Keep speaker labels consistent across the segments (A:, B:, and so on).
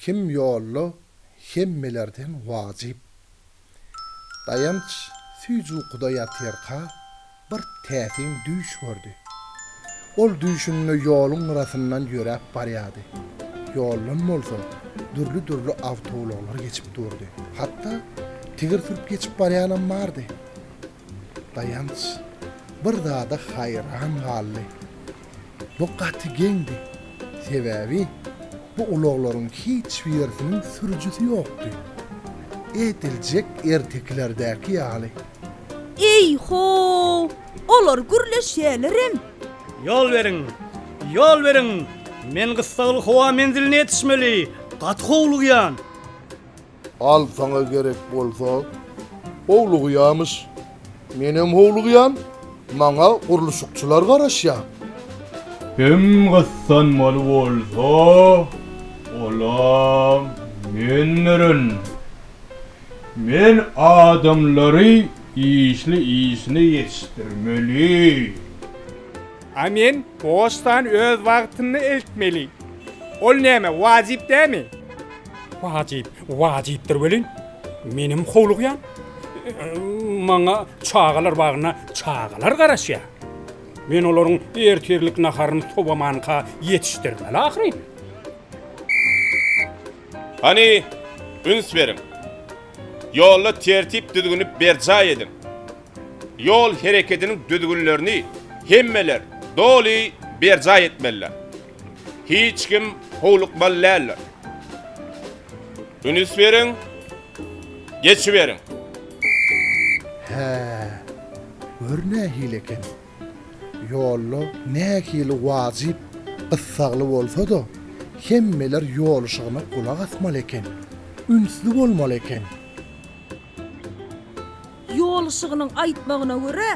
A: Kim ýolly hemmelerden wajyp. Daýanç süýji ukuda ýatyrka bir täsin düýş gördi. Ol düýşünde ýoluň gyrasyndan ýöräp barýardy. Ýoldan bolsa dürli-dürli awtoulaglar geçip durdy. Hatda tigir sürüp geçip barýanam bardy. Daýanç bir zada haýran galdy. Bu gaty geňdi. Sebäbi bu ulaglaryň hiç birisiniň sürüjisi ýokdy. Ediljek ertekilerdäki ýaly. Eý-ho!
B: Olar gürleşýälerem. Ýol beriň!
C: Ýol beriň! Men gyssagly howa menziline ýetişmeli. Gaty howlugýan.
A: Al saňa gerek bolsa howlugýamyş. Menem howlugýan, maňa gurluşykçylar garaşýar.
D: Hem gyssanmaly bolsa, olam mendirin. Men adamlary işli işine ýetişdirmeli. A
E: men poçtany öz wagtynda eltmeli. Ol näme, wajyp dämi? Wajyp, wajypdyr welin, menem howlugýan. Maňa çagalar bagyna çagalar garaşýar. Men olaryň ertirlik naharyny sowamanka ýetişdirmeli ahyryn.
F: Hany, üns beriň. Ýolda tertip-düzgüni berjaý ediň. Ýol herekediniň düzgünlerini hemmeler doly berjaý etmeliler. Hiç kim howlukmaly däldir. Ünis beriň, geçiberiň. Hä,
A: gör nähili eken. Ýolda nähili wajyp, gyssagly bolsa-da, hemmeler ýol yşygyna gulak asmaly eken, ünsli bolmaly eken.
B: Ýoluşygynyň aýtmagyna görä,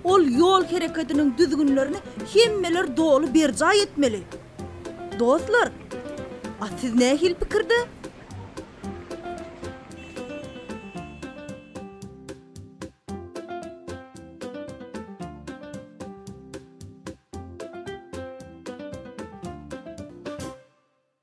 B: ol ýol hereketiniň düzgünlerini hemmeler doly berjaý etmeli. Dostlar, a siz nähili pikirde?